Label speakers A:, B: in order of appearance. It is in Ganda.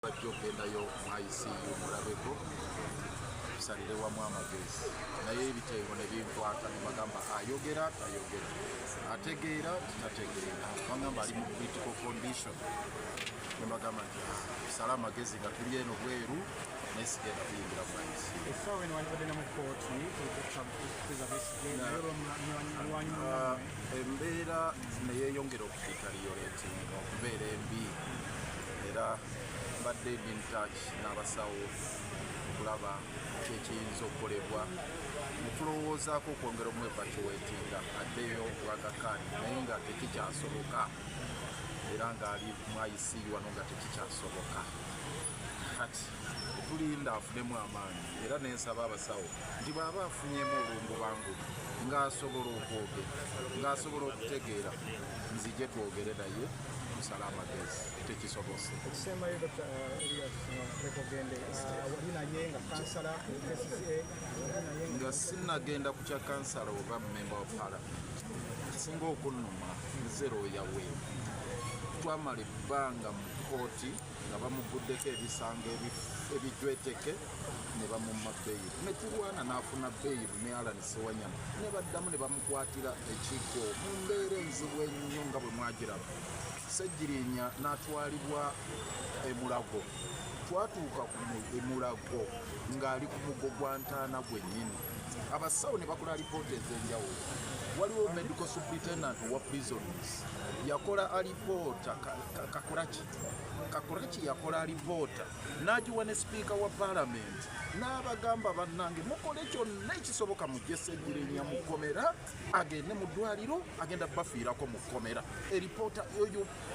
A: bajja okugendayo mu icu mulabeko tusalire wamu amagezi naye ebitengo ne binkwata nebagamba ayogera tayogera ategeera titategeera bagamba ali mu critical condition nebagamba nti sala amagezi nga tuli eno bweru naye sigenda kuyingira mu icu Ah, embeera neyeyongera okukitalioletinga okubeera embi era mbadde ndi ntach n'abasawo okulaba kyekiyinza okukolebwa netulowoozaako okwongera omwevacuwetinga addeyo obwagakaani naye nga tekikyasoboka era ngaali mu icu wano nga tekikyasoboka kati tulinda afunemu amaanyi era nensaba abasawo nti bwaba afunyemu olungubangubi ngaasobola okwogera ngaasobola okutegeera nzije twogere naye kusala amagezi tekisobose ekisembayo dkt
B: elias wekogende
A: wali naye nga kansala kcca nga sinagenda ku kya kansala oba memba wa pala kisinga okunuma nze looya we twamala ebbanga mu kooti nga bamugguddeko ebisango ebijweteke ne bamumma beyiro ne tulwana n'afuna beyiro ne alan sewanyama ne baddamu ne bamukwatira ekigo mu mbeera enzibu ennyo nga bwe mwagiraba ssegirinya n'atwalibwa emulago twatuuka ku emulago ng'ali ku mugo gwa ntaana gwennyini abasawo ne bakola alipoota ez'enjawulo waliwo medical superintendent wa prisons yakola alipoota kakolaki kakuraki yakola alivoota n'agiwa ne sipiika wa palamenti n'abagamba bannange mukole kyonna ekisoboka mujese egirenya mu kkomera agende mu ddwaliro agenda bafiirako mu kkomera eripoota eyo